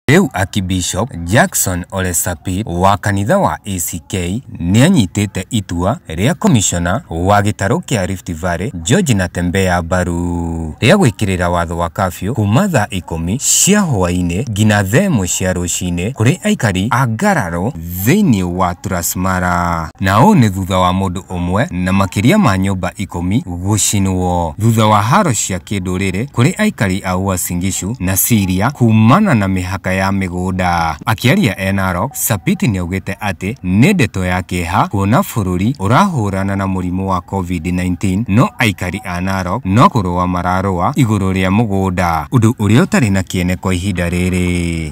Rĩu Akibishop Jackson Ole Sapit wa kanitha wa ACK nĩanyitĩte itua rĩa komishona wa gĩtarũ kĩa Rift Valley George Natembeya mbaru rĩa gwĩkĩrĩra watho wa kafyu kuma thaa ikũmi cia hwaĩ-inĩ nginya thaa ĩmwe cia rũcinĩ kũrĩ aikari a Ngararo thĩinĩ wa Turasmara. Na ũũ nĩ thutha wa mũndũ ũmwe na makĩria ma nyũmba ikũmi gũcinwo thutha wa haro cia kĩndũrĩrĩ kũrĩ aikari a Uasin Gishu na Syria kuumana na mĩhaka ya mĩgũnda. Akĩaria e Narok, Sapiti nĩaugĩte atĩ nĩ ndeto ya kĩeha kuona bũrũri ũrahũrana na mũrimũ wa Covid-19 no aikari a Narok no kũrũa mararũa igũrũ rĩa mũgũnda, ũndũ ũrĩa ũtarĩ na kĩene kwa ihinda rĩrĩ.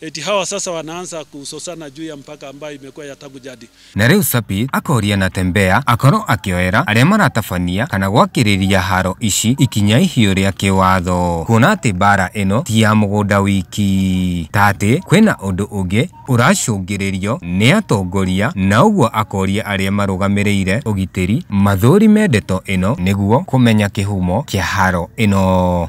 Eti hawa sasa wanaanza kusosana juu ya mpaka ambayo imekuwa ya tangu jadi. Na rĩu Sapit akoria Natembeya akorwo akĩoera arĩa maratabania kana gwakĩrĩria haro ici ikinya ihiũ rĩa kĩwatho, kuona atĩ mbara ĩno ti ya mũgũnda wiki, ta atĩ kwĩna ũndũ ũngĩ ũracũngĩrĩrio nĩ atongoria, na ũguo akoria arĩa marũgamĩrĩire ũgitĩri mathũrime ndeto ĩno nĩguo kũmenya kĩhumo kĩa haro ĩno.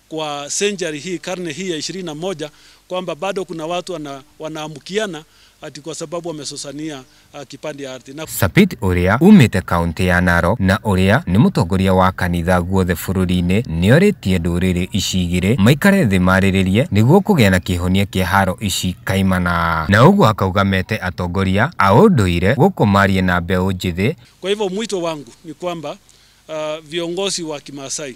kwa century hii, karne hii ya ishirini na moja kwamba bado kuna watu wana, wanaamkiana ati kwa sababu wamesosania uh, kipande ya ardhi na Sapit ũrĩa umĩte kaũntĩ ya Narok na ũrĩa nĩ mũtongoria wa kanitha guothe bũrũri-inĩ nĩorĩtie ndũrĩrĩ ici igĩrĩ maikare thĩ marĩrĩrie nĩguo kũgĩa na kĩhonia kĩa haro ici kaimana. Na ũguo akauga mete atongoria a ũndũire gũkũ marie na mbeũ njĩthĩ Kwa hivyo mwito wangu ni kwamba uh, viongozi wa Kimaasai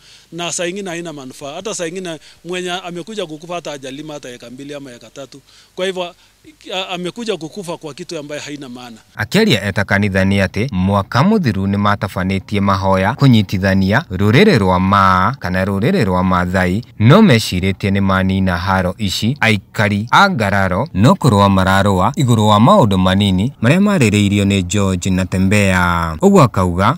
na saa ingine haina manufaa. Hata saa ingine mwenye amekuja kukufa hata hajalima hata eka mbili ama eka tatu, kwa hivyo a- amekuja kukufa kwa kitu ambaye haina maana. Akĩaria eta kanitha nĩ atĩ mwaka mũthiru nĩ matabanĩtie mahoya kũnyitithania rũrĩrĩ rwa Maa kana rũrĩrĩ rwa Maathai no mecirĩtie nĩ manina haro ici aikari a Ngararo no kũrũa mararũa igũrũ wa maũndũ manini marĩa marĩrĩirio nĩ George na Tembea. Ũguo akauga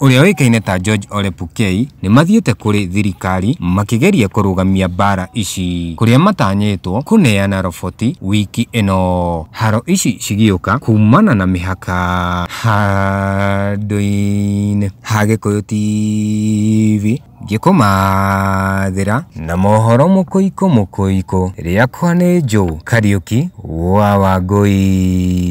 ũrĩa ũĩkaine ta George Ole Pukei, nĩ mathiĩte kũrĩ thirikari makĩgeria kũrũgamia mbaara ici, kũrĩa matanyĩtwo kũneana roboti wiki ĩno. Haro ici cigĩũka kuumana na mĩhaka handũ-inĩ ha Gĩkũyũ TV ngĩkũmathĩra na mohoro mũkũikũ mũkũikũ, rĩakwa nĩ Joe Kariuki wa Wangũi.